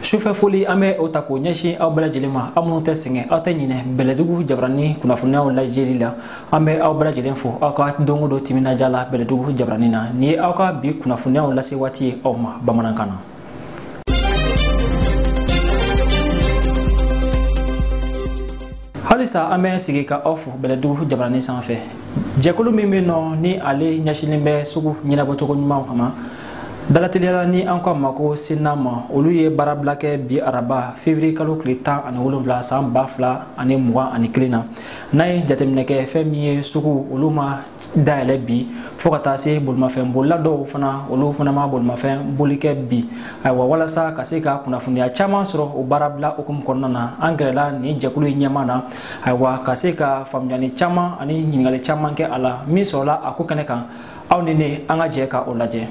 sufɛ foli an bɛ o ta k'o ɲɛsin aw bɛɛ lajɛlen ma aw minnu tɛ sɛgɛn aw tɛ ɲinɛ bɛlɛdugu jabaranin kunnafoniyaw lajɛli la an bɛ aw bɛɛ lajɛlen fo aw ka don o don timinandiya la bɛlɛdugu jabaranin na nin ye aw ka bi kunnafoniyaw lase waati ye aw ma bamanankan na halisa an bɛ segin ka aw fo bɛlɛdugu jabaranin sanfɛ jɛkulu min bɛ nɔ ni ale ɲɛsinnen bɛ sugu ɲɛnabɔcogo ɲumanw kama dalateliya la ni an ko a ma ko CNAM olu ye baarabila kɛ bi araba fevriye kalo tile tan ani wolonwula san ba fila ani mugan ani kelen na n'an ye jateminɛ kɛ fɛn min ye suguw olu ma dayɛlɛ bi fo ka taa se bolimafɛn bolila dɔw fana olu fana ma bolimafɛn boli kɛ bi ayiwa walasa ka se ka kunnafoniya caman sɔrɔ o baarabila hukumu kɔnɔna na an gɛrɛla nin jɛkulu in ɲɛmaa na ayiwa ka se ka faamuyali caman ani ɲininkali caman kɛ a la min sɔrɔla a ko kɛnɛ kan aw ni ne an ka jɛ ka o lajɛ.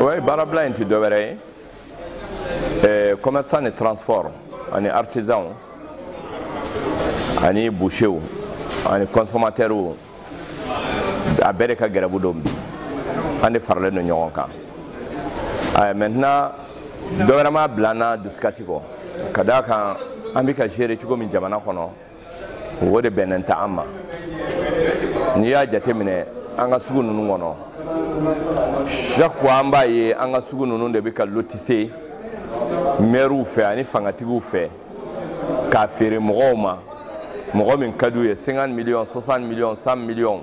o ye baarabila in tɛ dɔwɛrɛ ye eh, commerçant ni transport ani artisan ani boucher ani consommateur a bɛɛ de ka gɛrɛbu don bi an de faralen don ɲɔgɔn kan eh, maintenant dɔ wɛrɛ m'a bila an na dusukasi kɔ ka d'a kan an bɛ ka gérer cogo min jamana kɔnɔ o de bɛnnen tɛ an ma n'i y'a jateminɛ an ka sugu ninnu kɔnɔ chaque fois an b'a ye an ka sugu ninnu de bɛ ka lotise mɛriw fɛ ani fangatigiw fɛ k'a feere mɔgɔw ma mɔgɔ min ka d'u ye 50 miliyɔn 60 miliyɔn 100 miliyɔn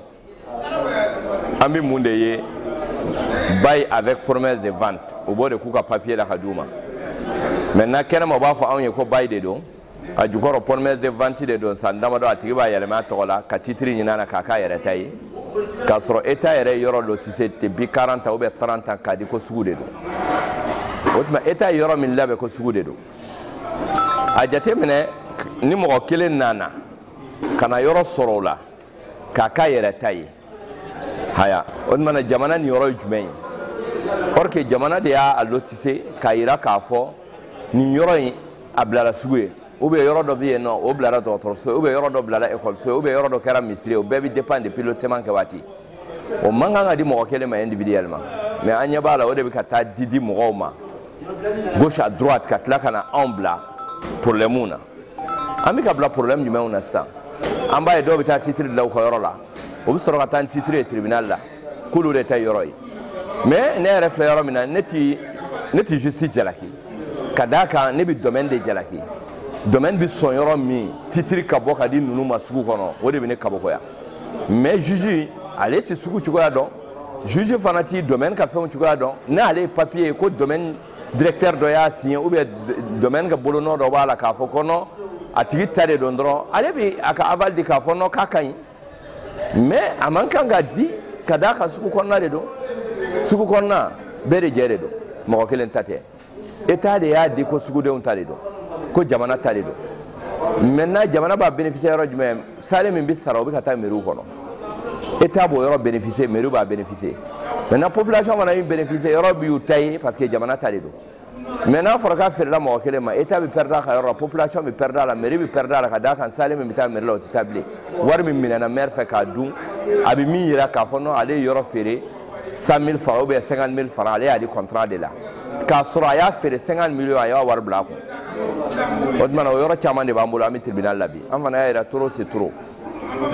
an bɛ mun de ye bail avec promesse de vente u b'o de k'u ka papier la ka d'u ma maintenant kɛnɛma u b'a fɔ anw ye ko bail de don a jukɔrɔ promesse de vente de don san damadɔ a tigi b'a yɛlɛma a tɔgɔ la ka titiri ɲini a la k'a k'a yɛrɛ ta ye k'a sɔrɔ État yɛrɛ ye yɔrɔ lotise depuis 40 ans ou bien 30 ans k'a di ko sugu de don o tuma État ye yɔrɔ min labɛn ko sugu de don a jateminɛ ni mɔgɔ kelen nana ka na yɔrɔ sɔrɔ o la k'a k'a yɛrɛ ta ye haya o tuma na jamana niyɔrɔ ye jumɛn ye or que jamana de y'a lotise k'a yira k'a fɔ nin yɔrɔ in a bilara sugu ye ou bien yɔrɔ dɔ bɛ yen nɔ o bilara dɔgɔtɔrɔso ye ou bien yɔrɔ dɔ bilara ekɔliso ye ou bien yɔrɔ dɔ kɛra misiri ye o bɛɛ bɛ dépend depuis lotissement kɛ waati o man kan ka di mɔgɔ kelen ma individuellement mais an ɲɛ b'a la o de bɛ ka taa di di mɔgɔw ma gauche à droite ka tila ka na anw bila problème na an bɛ ka bila problème jumɛnw na sisan an b'a ye dɔw bɛ taa titre dilan u ka yɔrɔ la u bɛ sɔrɔ ka taa ni titre ye tribunal la k'olu de ta ye yɔrɔ ye mais ne yɛrɛ filɛ yɔrɔ min na ne ti ne ti justice jalaki ka d'a kan ne bɛ domaine de jalaki domaine bɛ sɔn yɔrɔ min titre ka bɔ ka di ninnu ma sugu kɔnɔ o de bɛ ne kabakoya mais juge ale ti sugu cogoya dɔn juge fana ti domaine ka fɛnw cogoya dɔn n'ale ye papier ye ko domaine directeur dɔ y'a signé ou bien domaine ka bolonɔ dɔ b'a la k'a fɔ ko non a tigi ta de don dɔrɔn ale bi a ka aval di k'a fɔ non k'a ka ɲi mais a man kan ka di ka d'a kan sugu kɔnɔna de don sugu kɔnɔna bɛɛ de jɛ de don mɔgɔ kelen ta tɛ état de y'a di ko sugudenw ta de don ko jamana ta de don maintenant jamana b'a bénéficier yɔrɔ jumɛn sale min bɛ sara o bɛ ka taa meriw kɔnɔ état b'o yɔrɔ bénéficier meriw b'a bénéficier maintenant population fana bɛ bénéficier yɔrɔ bɛɛ y'u ta ye parce que jamana ta de don mais n'a fɔra k'a feerela mɔgɔ kelen ma état bɛ perdre a ka yɔrɔ la population bɛ perdre a la meri bɛ perdre a la ka d'a kan sale min bɛ taa meri la o tɛ taa bilen wari min minɛna maire fɛ k'a dun a bɛ min jira k'a fɔ non ale ye yɔrɔ feere 100 000 francs ou bien 50 000 francs ale y'a di contrat de la k'a sɔrɔ a y'a feere 50 millions a y'a wari bila a kun o tuma na o yɔrɔ caman de b'an bolo an bɛ tribunal la bi an fana y'a jira trop c'est trop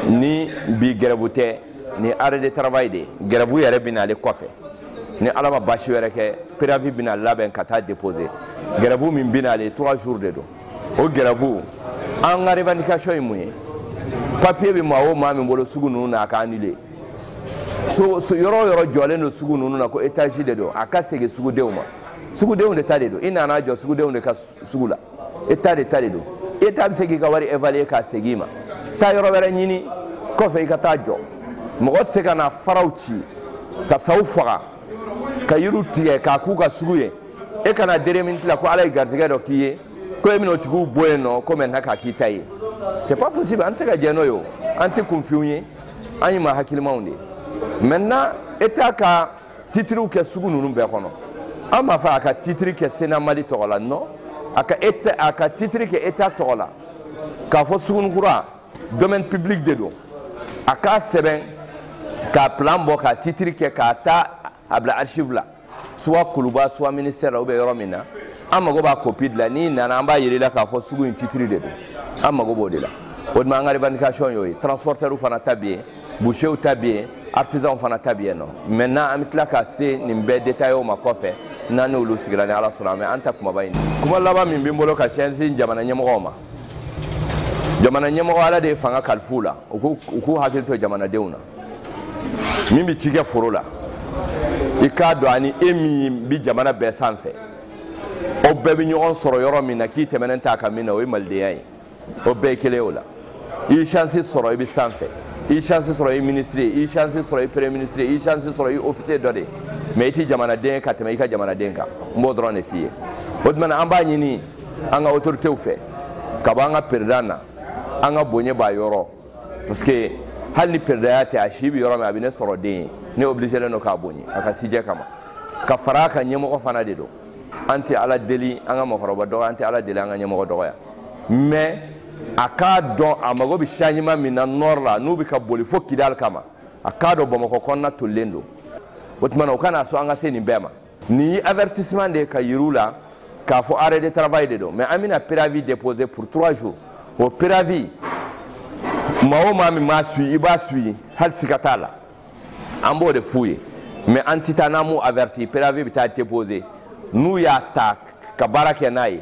ni bi grève tɛ ni arrêt de travail de ye grève yɛrɛ bɛ n'ale kɔfɛ ni ala ma baasi wɛrɛ kɛ préavis bɛna labɛn ka taa déposer grève min bɛ n'ale trois jours de don o grève an ka revendication ye mun ye papier bɛ maa o maa min bolo sugu ninnu na a ka annuler so so yɔrɔ yɔrɔ jɔlen don sugu ninnu na ko etazi de don a ka segin sugudenw ma sugudenw de ta de don i nana jɔ sugudenw de ka sugu la état de ta de don état bɛ se k'i ka wari évaluer k'a segin i ma taa yɔrɔ wɛrɛ ɲini kɔfɛ i ka taa jɔ mɔgɔ tɛ se ka na faraw ci ka saw faga ka yiriw tigɛ k'a k'u ka sugu ye e ka na dernière minute la ko ala ye garisigɛ dɔ k'i ye ko e bɛna o tigiw bɔ yen non ko maintenant k'a k'i ta ye c'est pas possible an tɛ se ka jɛ n'o ye o an tɛ kunfinw ye an ye maa hakilimaw de ye maintenant état ka titiriw kɛ sugu ninnu bɛɛ kɔnɔ an m'a fɔ a ka titiri kɛ sena mali tɔgɔ la non a ka état a ka titiri kɛ état tɔgɔ la k'a fɔ sugunikura domaine public de don a k'a sɛbɛn k'a plan bɔ k'a titiri kɛ ka taa a bila archive la soit kuluba soit ministère la ou bien yɔrɔ min na an mago b'a copie de la n'i nana an b'a yira i la k'a fɔ sugu in titre de don an mago b'o de la o tuma an ka revendication y'o ye transporteurs fana ta bɛ yen bouchers ta bɛ yen artisans fana ta bɛ yen non maintenant an bɛ tila ka se nin bɛɛ détail o ma kɔfɛ n'an n'olu sigira ni ala sɔnna an bɛ an ta kumaba in kuma laban min bɛ n bolo k'a ɲɛsin jamana ɲɛmɔgɔw ma jamana ɲɛmɔgɔ ala de ye fanga kalif'u la u k'u hakili to jamanadenw na min bɛ ci kɛ foro la i k'a dɔn ani e min bɛ jamana bɛɛ sanfɛ o bɛɛ bɛ ɲɔgɔn sɔrɔ yɔrɔ min na k'i tɛmɛnen t'a kan min na o ye malidenya ye o bɛɛ ye kelen ye o la i ye chance sɔrɔ i bɛ sanfɛ i ye chance sɔrɔ i ye ministre ye i ye chance sɔrɔ i ye premier ministre ye i ye chance sɔrɔ i ye officier dɔ de ye mais i tɛ jamanaden ye ka tɛmɛ i ka jamanaden kan n b'o dɔrɔn de f'i ye o tuma na an b'a ɲini an ka autorités fɛ ka bɔ an ka peresidan na an ka bonya b'a yɔrɔ parce que hali ni peresidanya tɛ a si bɛ yɔrɔ min a bɛ ne sɔrɔ den ye ne obligélen don k'a bonya a ka sijɛ kama ka fara a kan ɲɛmɔgɔ fana de don an tɛ ala deli an ka mɔgɔkɔrɔba dɔgɔya an tɛ ala deli an ka ɲɛmɔgɔ dɔgɔya mais a k'a dɔn a mago bɛ changement min na nord la n'u bɛ ka boli fo kidali kama a k'a dɔn bamakɔ kɔnɔna tolilen don o tuma na o kana sɔn an ka se nin bɛɛ ma nin ye avertissement de ye ka yir'u la k'a fɔ arrêt de travail de don mais an bɛna préavis déposer pour trois jours o préavis maa o maa min m'a suivi i b'a suivi hali siga t'a la an b'o de f'u ye mais an tɛ taa n'an m'u averti préavis bɛ taa déposer n'u y'a ta ka baara kɛ n'a ye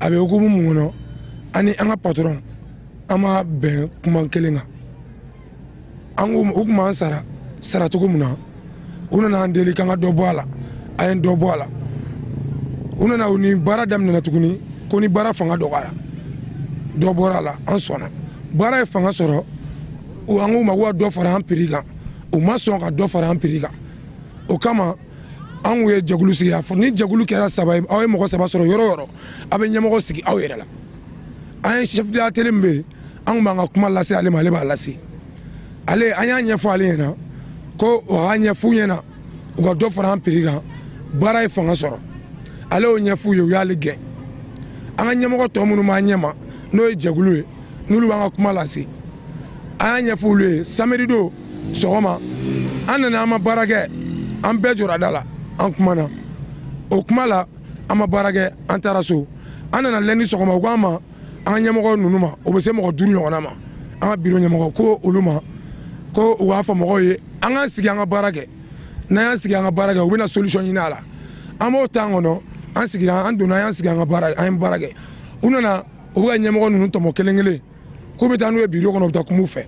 a bɛ hukumu mun kɔnɔ an ni an ka patɔrɔn an ma bɛn kuma kelen kan an ko u kun b'an sara sara cogo min na u nana an deli k'an ka dɔ bɔ a la an ye dɔ bɔ a la u nana ni baara daminɛna tuguni ko ni baara fanga dɔgɔyara dɔ bɔra a la an sɔnna baara ye fanga sɔrɔ an k'u ma ko ka dɔ fara an piri kan u ma sɔn ka dɔ fara an piri kan o kama an kun ye jɛkulu sigi a fɔ ni jɛkulu kɛra saba ye aw ye mɔgɔ saba sɔrɔ yɔrɔ o yɔrɔ aw bɛ ɲɛmɔgɔ sigi aw yɛrɛ la an ye chef de l'atelier min bɛ yen an kun b'an ka kuma lase ale ma ale b'a lase ale an y'a ɲɛfɔ ale ɲɛna ko o y'a ɲɛf'u ɲɛna u ka dɔ fara an piri kan baara ye fanga sɔrɔ ale y'o ɲɛf'u ye u y'ale gɛn an ka ɲɛmɔgɔ tɔ minnu b'an ɲɛma n'o ye jɛkulu ye n'olu b'an ka kuma lase an y'a ɲɛf'olu ye samedi don sɔgɔma an nana an ma baara kɛ an bɛɛ jɔra da la an kumana o kuma la an ma baara kɛ an taara so an nana lundi sɔgɔma u k'an ma an ka ɲɛmɔgɔ ninnu ma o bɛ se mɔgɔ duuru ɲɔgɔnna ma an ka biro ɲɛmɔgɔ ko olu ma ko u b'a fɔ mɔgɔw ye an k'an sigi an ka baara kɛ n'an y'an sigi an ka baara kɛ u bɛna solution ɲini a la an b'o temps kɔnɔ an sigira an donna an y'an sigi an ka baara an ye baara kɛ u nana u bɛ ka ɲɛmɔgɔ ninnu tɔmɔ kelen kelen k'u bɛ taa n'u ye biro kɔnɔ u bɛ taa kum'u fɛ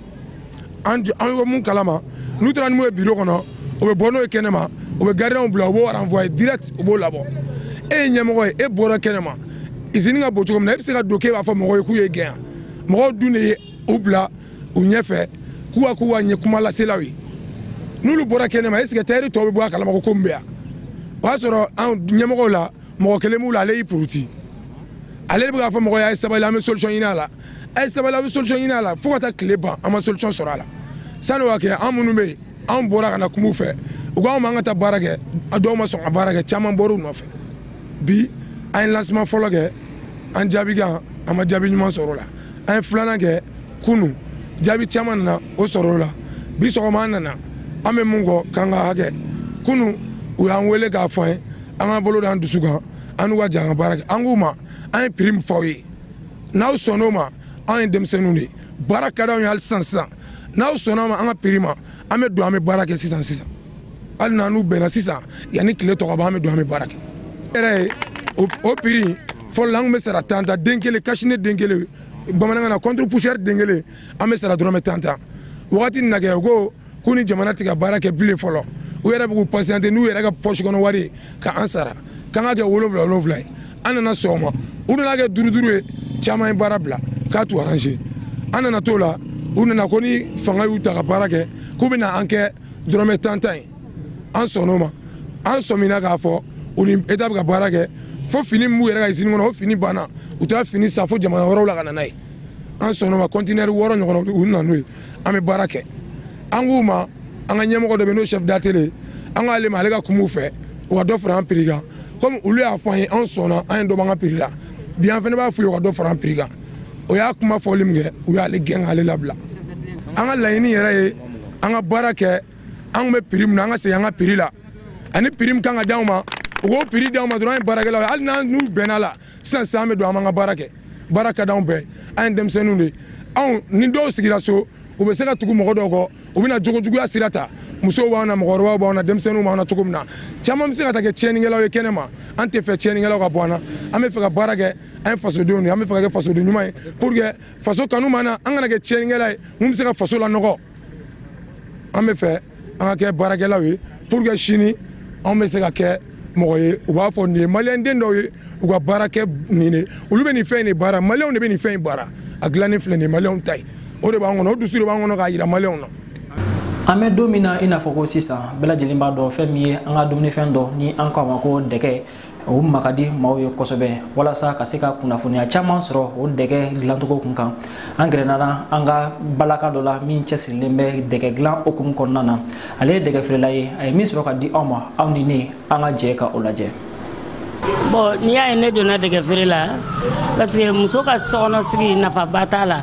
an bɛ mun kalama n'u taara n'u ye biro kɔnɔ u bɛ bɔ n'o ye kɛnɛma u bɛ garidiyanw bila u b'o renvoyer direct u b'o labɔ e ye ɲɛmɔgɔ ye e bɔra kɛnɛma izini ka bon cogo min na e bɛ se ka don k'e b'a fɔ mɔgɔw ye k'u y'e gɛn mɔgɔw dun de ye u bila u ɲɛfɛ k'u ka k'u ka ɲɛ kuma laselaw ye n'olu bɔra kɛnɛma est ce que tayɛri tɔw bɛ bɔ a kalama ko ko min bɛ yan o y'a sɔrɔ an ɲɛmɔgɔw la mɔgɔ kelen b'u la ale y'i puruti ale de bɛ k'a fɔ mɔgɔ y'a ye sabali an bɛ solution ɲini a la a ye sabali an bɛ solution ɲini a la fo ka taa tile ban an ma solution sɔrɔ a la sani o ka kɛ an minnu bɛ yen anw bɔra ka na kum'u fɛ u ko anw b'an ka taa baara kɛ a dɔw ma sɔn ka baara kɛ caman bɔr'u nɔfɛ bi an ye lansima fɔlɔ kɛ an jaabi kan an ma jaabi ɲuman sɔrɔ o la an ye filanan kɛ kunu jaabi caman nana o sɔrɔ o la bi sɔgɔma an nana an bɛ mun kɔ k'an ka hakɛ kunu u y'an wele k'a fɔ an ye an ka bolo da an dusu kan an n'u ka jɛ an ka baara kɛ an k'u ma an ye prix min f'aw ye n'aw sɔnn'o ma anw ye denmisɛnninw de ye baara ka d'anw ye hali sisan sisan n'aw sɔnn'a ma an ka prix ma an bɛ don an bɛ baara kɛ sisan sisan hali n'an n'u bɛnna sisan yanni tile tɔ ka ban an bɛ don an bɛ baara kɛ yɛrɛ ye o prix fɔlɔ la an tun bɛ sara tan tan den kelen cache-nez den kelen bamanankan na contre poussière den kelen an bɛ sara dɔrɔmɛ tan tan wagati nin na kɛ u ko k'u ni jamana tɛ ka baara kɛ bilen fɔlɔ u yɛrɛ bɛ k'u pasiyante n'u yɛrɛ ka pɔsi kɔnɔ wari ye ka an sara k'an ka kɛ wolonwula wolonwula ye an nana sɔgɔma u nana kɛ duuru duuru ye caman ye baara bila ka t'u aranze an nana t'o la u nana ko ni fanga y'u ta ka baara kɛ k'u bɛna an kɛ dɔrɔmɛ tan tan ye an sɔnn'o ma an sɔmina k'a fɔ u ni eta bɛ ka baara kɛ fo fini min b'u yɛrɛ ka izini kɔnɔ o fini banna u taara fini san fo jamana wɛrɛw la ka na n'a ye an sɔnn'o ma kɔntinɛri wɔɔrɔ ɲɔgɔn u nana n'o ye an bɛ baara kɛ an k'u ma an ka ɲɛmɔgɔ dɔ bɛ n'o chef d'atelier an k'ale ma ale ka kum'u fɛ u ka dɔ fara an prix kan comme olu y'a fɔ an ye anw sɔnna an ye dɔ b'an ka prix la bi an fana b'a f'u ye u ka dɔ fara an prix kan o y'a kuma fɔli min kɛ u y'ale gɛn k'ale labila an ka laɲini yɛrɛ ye an ka baara kɛ an tun bɛ prix min na an ka segin an ka prix la ani prix min ka kan ka d'anw ma u k'o prix d'anw ma dɔrɔn an ye baarakɛlaw ye hali n'an n'u bɛnn'a la sisan sisan an bɛ don an b'an ka baara kɛ baara ka d'anw ye an ye denmisɛnninw de anw ni dɔw sigira so u bɛ se ka tugu mɔgɔ dɔw kɔ u bɛna jogojuguya sira ta musow b'an na mɔgɔkɔrɔbaw b'an na denmisɛnninw b'an na cogo min na caman bɛ se ka taa kɛ tiɲɛnikɛlaw ye kɛnɛ ma an tɛ fɛ tiɲɛnikɛlaw ka bɔ an na an bɛ fɛ ka baara kɛ an ye fasodenw de an bɛ fɛ ka kɛ fasoden ɲuman ye pour que faso kanu b'an na an kana kɛ tiɲɛnikɛla ye min bɛ se ka faso lanɔgɔ an bɛ fɛ an ka kɛ baarakɛlaw ye pour que sini anw bɛ se ka kɛ mɔgɔ ye u b'a fɔ nin ye maliyɛnden dɔw ye u ka baara kɛ nin de olu bɛ nin fɛn in de baara maliyɛnw de bɛ nin fɛn in baara a dilannen filɛ nin ye maliyɛnw ta ye o de b'an kɔnɔ o dusu de b'an kɔnɔ k'a jira maliyɛnw na an bɛ don min na i n'a fɔ ko sisan bɛɛ lajɛlen b'a dɔn fɛn min ye an ka dumunifɛn dɔ ni an k'a ma ko dɛgɛ o ma ka di maaw ye kosɛbɛ walasa ka se ka kunnafoniya caman sɔrɔ o dɛgɛ dilancogo kun kan an gɛrɛnana an ka balaka dɔ la min cɛsirilen bɛ dɛgɛ dilan hukumu kɔnɔna na ale ye dɛgɛ feerela ye a ye min sɔrɔ ka di anw ma aw ni ne an ka jɛ ka o lajɛ bɔn n'i y'a ye ne donna dɛgɛ feere la parce que muso ka sokɔnɔsigi nafaba t'a la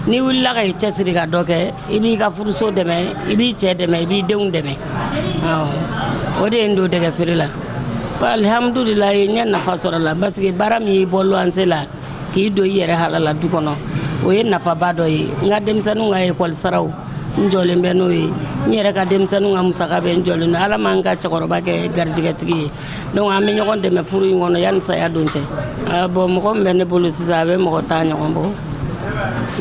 n'i wulila ka i cɛsiri ka dɔ kɛ i b'i ka furuso dɛmɛ i b'i cɛ dɛmɛ i b'i denw dɛmɛ o de ye n don dɛgɛ feere la alihamudulila ne ye nafa sɔrɔ a la parce que baara min y'i bɔ luwanse la k'i don i yɛrɛ halala du kɔnɔ o ye nafaba dɔ ye n ka denmisɛnninw ka ekɔli saraw n jɔlen bɛ n'o ye n yɛrɛ ka denmisɛnninw ka musaka bɛɛ n jɔlen don ala ma n ka cɛkɔrɔba kɛ garijɛgɛtigi ye donc an bɛ ɲɔgɔn dɛmɛ furu in kɔnɔ yanni saya don cɛ bɔn mɔgɔ min bɛ ne bolo sisan a bɛ mɔgɔ tan ɲɔgɔn bɔ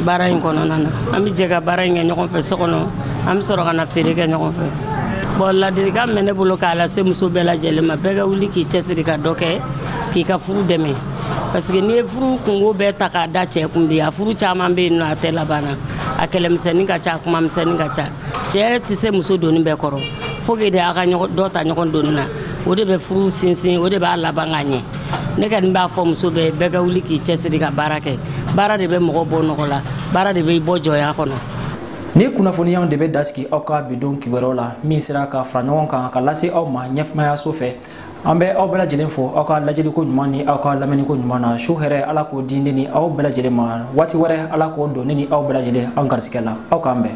baara in kɔnɔna na an bɛ jɛ ka baara in kɛ ɲɔgɔn fɛ so kɔnɔ an bɛ sɔrɔ ka na feere kɛ ɲɔgɔn fɛ bɔn ladilikan min bɛ ne bolo k'a lase muso bɛɛ lajɛlen ma bɛɛ ka wuli k'i cɛsiri ka dɔ kɛ k'i ka furu dɛmɛ parce que n'i ye furu kunko bɛɛ ta k'a da cɛ kun bi a furu caman bɛ yen nɔ a tɛ laban na a kɛlɛmisɛnnin ka ca a kumamisɛnnin ka ca cɛ tɛ se muso doni bɛɛ kɔrɔ fo ke de a ka dɔ ta ɲɔgɔn doni na o de bɛ furu sinsin o de b'a laban ka ɲɛ ne kɔni b'a fɔ muso bɛɛ bɛɛ ka wuli k'i cɛsiri ka baara kɛ baara de bɛ mɔgɔ bɔ nɔgɔ la baara de bɛ i bɔ jɔnya kɔnɔ nin kunnafoniyaw de bɛ dan sigi aw ka bi don kibaruyaw la min sera ka fara ɲɔgɔn kan ka lase aw ma ɲɛmaayaso fɛ an bɛ aw bɛɛ lajɛlen fo aw ka lajɛliko ɲuman ni aw ka lamɛnniko ɲuman na su hɛrɛ ala k'o di ne ni aw bɛɛ lajɛlen ma waati wɛrɛ ala k'o don ne ni aw bɛɛ lajɛlen an garisigɛ la aw k'an bɛn